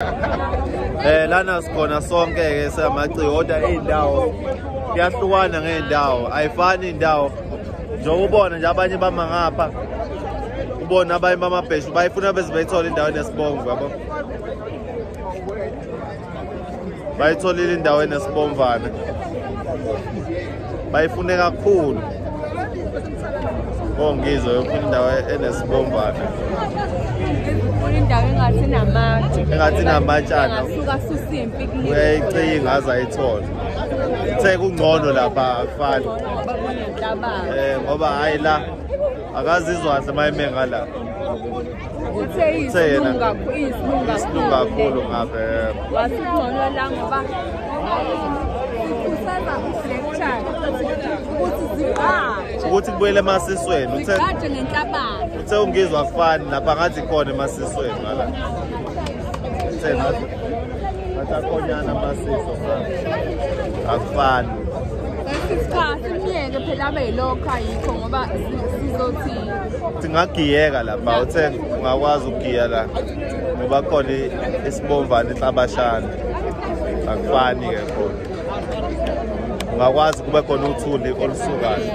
Eh lana sikhona sonke ke samaci kodwa izindawo kuyahlukana ngeendawo ayifani indawo njengoba ubona nje abanye bama ngapha ubona abanye bamabheshu bayifuna bese bayithola indawo enesibomvu yabo bayitholile indawo enesibomvana bayifune kakhulu ongizwe oh, yofuna indawo enesibomvana funa indawo engathi namatshe engathi namatshana ngasuka susa impi kulile uyayicinga aze ayithole uthe kungcono lapha akufani eh ngoba hayi la akazizwa kahle uma ime ngala uthe iyisilungu kakhulu iyisilungu kakhulu ngabe wasingcono la ngoba sikhuthaza ukulekshana ukuthi ziqaje ukuthi kubuyele emasisweni uthe ziqaje ngenhlabani uthe ungizwa kufani lapha ngathi khona emasisweni ngala uthe ngathi akhonyana amasiso akufani isikhathi umyeke phela abe yilokho ayikho ngoba sizothini singagiyeka lapha uthe ungakwazi ukugiya la ngoba khona isibomvana inhlabashana akufani ke khona ungakwazi kube khona uthuli olusukayo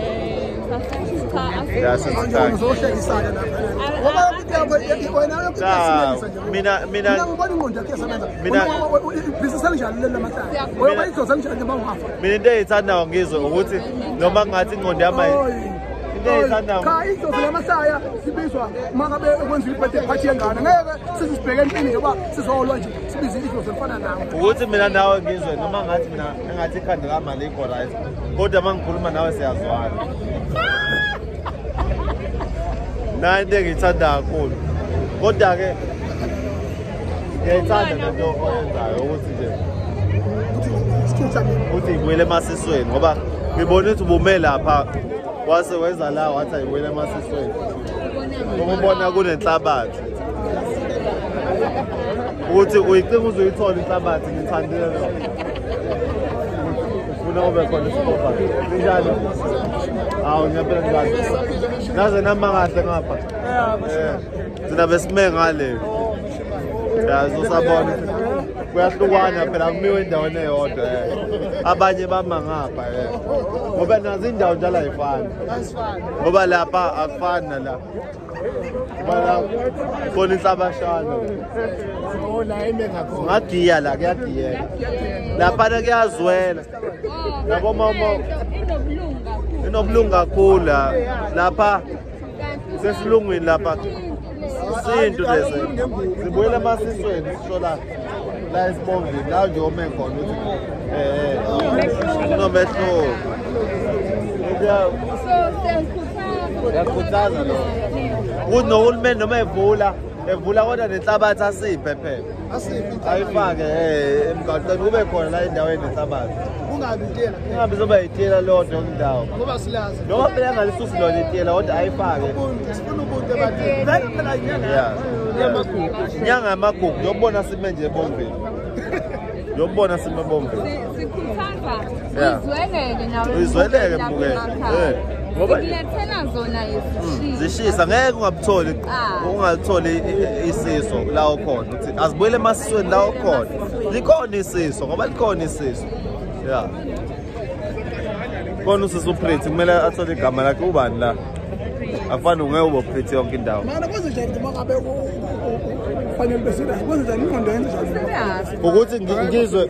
mina mina mina into engiyithandayo ngizwe ukuthi noma ngathi ingqondo yami cha idlozi lamahlaya sibizwa makabe ekwenza ibhede phathi yengane ngeke sizisibheke empini nje uba sizolwa nje sibize idlozi elifana nawo ukuthi mina nawe ngizwe noma ngathi mina engathi ikhanda lami alikho right kodwa uma ngikhuluma nawe siyazwana nayo into engiyithanda kakhulu kodwa-ke ngiyayithanda lento oyenzayo ukuthi nje ukuthi ngibuyele emasisweni ngoba ngibona ukuthi ubume lapha wase wenza la wathi ayibuyele emasisweni ukubona kunenhlabathi ukuthi uyicinga uze uyithole inhlabathi ngithandile lo ufuna ube khona isipopa injalo hawu ngiyabela ngibani naze nama kahle ngapha thina besime ngale yazosabona kuyahlukwana phela kumiwe endaweni eyodwa eh. abanye bama ngapha eh. ngoba nazo indawo njalo ayifani ngoba lapha akufani nalapha khona inhlabashana ngadiya la kuyadiyeka laphana kuyazwela yabo mama inobulungu kakhulu lapha sesilungwini lapha isintu lesi sibuyela emasisweni sishola la esibongweni la nje ome khona ukuthi um kunomehluko yakhuthaza lokho ukuthi nohulumeni noma evula evula kodwa nenhlabathi asiphe phela ayifake eh, emgaqeni kube khona la endaweni esabazi kungabi itela kungabi zoba itela lodwa indawo ngoba silazi noma phela angalisusi lona itela kodwa ayifake sifuna ubuntu ebantwini vele phela inyanga yamagugu inyanga yamagugu yokubona sime nje ebombeni yokubona sime ebombeni sikhuthaza uyizweleke nawe uyizweleke mbukela ngobalethela zona izishisa hmm, zishisa ngeke ungabutholi ah. ungatholi isiso la ukhona uthi azibuyele emasisweni la ukhona likhona isiso ngoba likhona isiso ya khona usisi upreti kumele athole igama lakhe ubani la afana ungeke ube upreti yonke indawo ukuthi ngizwe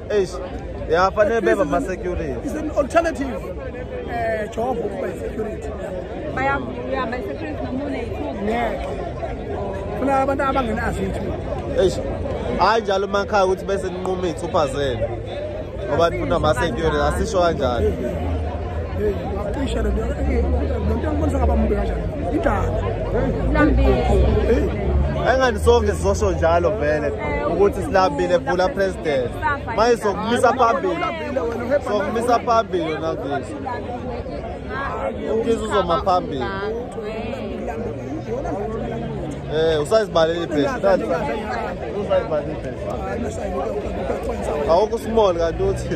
Eish. Yeah, fanele beba ma security. Is an alternative uh, job ukuba security. Baya yeah, my security namune ithuba. Yeah. Funa abantu abangenazo ithuba. Eish. Hayi njalo makhaya ukuthi bese ninquma izithupha zenu. Ngoba nifuna ama security asisho kanjani. Hey, ngacisha le nto. Hey, lo nto ngibonisa ngaba mbe kanjani. Idala. Lambile. Hey. engathi sonke sizosho njalo vele ukuthi silambile bhula president manje sokumisa phambili sokumisa phambili nakithi ukiza uzoma phambili Eh usayizibalele ibhesha kanti usayizibalele ibhesha awukho small kanti uthi